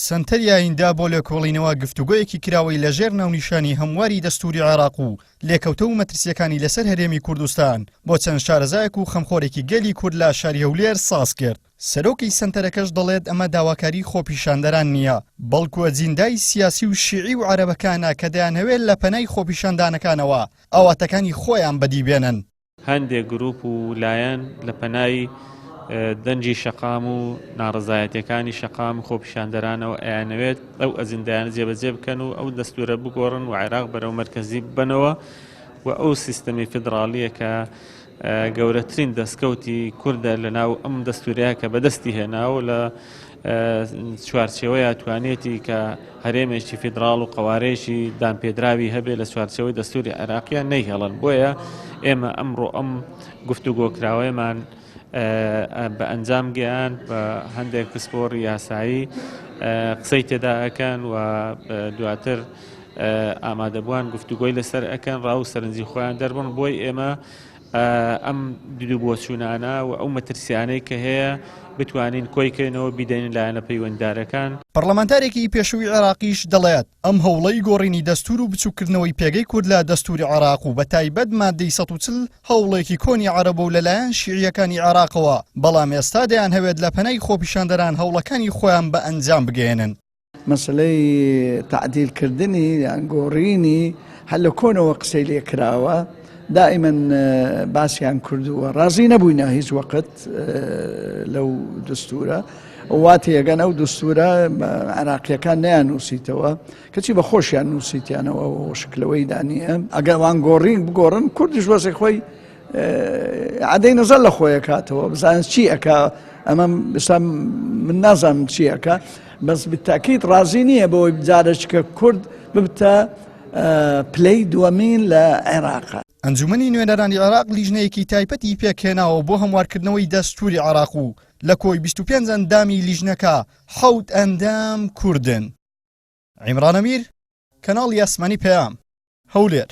سەنتەری ئاییندا بۆ لێکۆڵینەوە گفتوگۆیەکی کراوەی لەژێر ناونیشانی هەمواری دەستووری عێراق و لێکەوتە و مەترسیەکانی لەسەر هەرێمی کوردستان بۆ چەند شارەزایەک و خەمخۆرێکی گەلی کورد لە شاری هەولێر ساز کرد سەرۆکی سەنتەرەکەش دەڵێت ئەمە داواکاری خۆپیشاندەران نییە بەڵکو ئەجیندای سیاسی و شیعی و عەرەبەکانە کە دەیانەوێت لە پەنای خۆپیشاندانەکانەوە ئاواتەکانی خۆیان بەدیبێنن هەندێک گروپ و لایەن لە پەنای دەنگی شەقام و ناڕزایەتەکانی شەقام و خۆپیشاندەرانەوە ئەیانەوێت ئەو ئەزیندایانە جێبەجێ بکەن و ئەو دەستورە بگۆڕن و عێراق بەرەو مرکزی ببنەوە و ئەو سیستەمی فدراالیە کە گەورەترین دەستکەوتی کوردە لە ناو ئەم دەستورەیە کە بەدەستی هێناوە لە چوارچێوەیە توانێتی کە هەرێمێکی فیدراڵ و قوارێکی دامپێدراوی هەبێ لە چوارچەوەی دەستوری عێراقیان نەیهێڵن بۆیە ئێمە ئەمڕۆ ئەم گفتوگۆکراوەیەمان بە ئەنجام گەیان بە هەندێک پسپۆری یاسایی قسەی تێدا ئەکەن و دواتر ئامادەبووان گفتوگۆی لەسەر ئەکەن ڕاو سەرنجی خۆیان دەربن بۆی ئێمە ئەم دیدو بۆچوونانە و ئەو مەترسیانەی کە هەیە بتوانین کۆی کەینەوە بیدەینە لایەنە پەیوەنددارەکان. پەڕڵەمانتارێکی پێشووی عێراقیش دەڵێت، ئەم هەوڵەی گۆڕینی دەستوور و بچووککردنەوەی پێگەی کورد لە دەستووری عێراق و بەتایبەت ماددەی سەد و چل هەوڵێکی کۆنی عەرەبە و لەلایەن شیعییەکانی عێراقەوە، بەڵام ئێستا دەیانهەوێت لە پەنای خۆپیشاندەران هەوڵەکانی خۆیان بە ئەنجام بگەیەنن. مەسەلەی تەعدیل کردنی یان گۆڕینی هەر لە کۆنەوە قسەی لێ کراوە، دائیمەن باسیان کردووە، ڕازی نەبووینە هیچ وەقت لەو دستورە، وا تێگەن ئەو دستورە عراقییەکان نەیاننووسیتەوە، کەچی بە خۆشیان نووسیتیانەوە و شکلەوەیدا نییە، ئەگەر وان گۆڕین بگۆڕن کوردیش وەزعی خۆی عەدەی نەزەر لە خۆی ئەکاتەوە بزانین چی ئەکا ئەمە ئێستا من نازانم چی ئەکا بەس بتاکیت ڕازی نییە بەوەی جارەشکە کورد ببتە پلەی دووەمین لە عێراق ئەنجومەنی نوێنەرانی عێراق لیژنەیەکی تایپەتی پێکهێناوە بۆ هەموارکردنەوەی دەستوری عێراق و لە کۆی 25 ئەندامی لیژنەکە حەوت ئەندام کوردن. عیمران ئەمیر، کەناڵی ئاسمانی پەیام، هەولێر.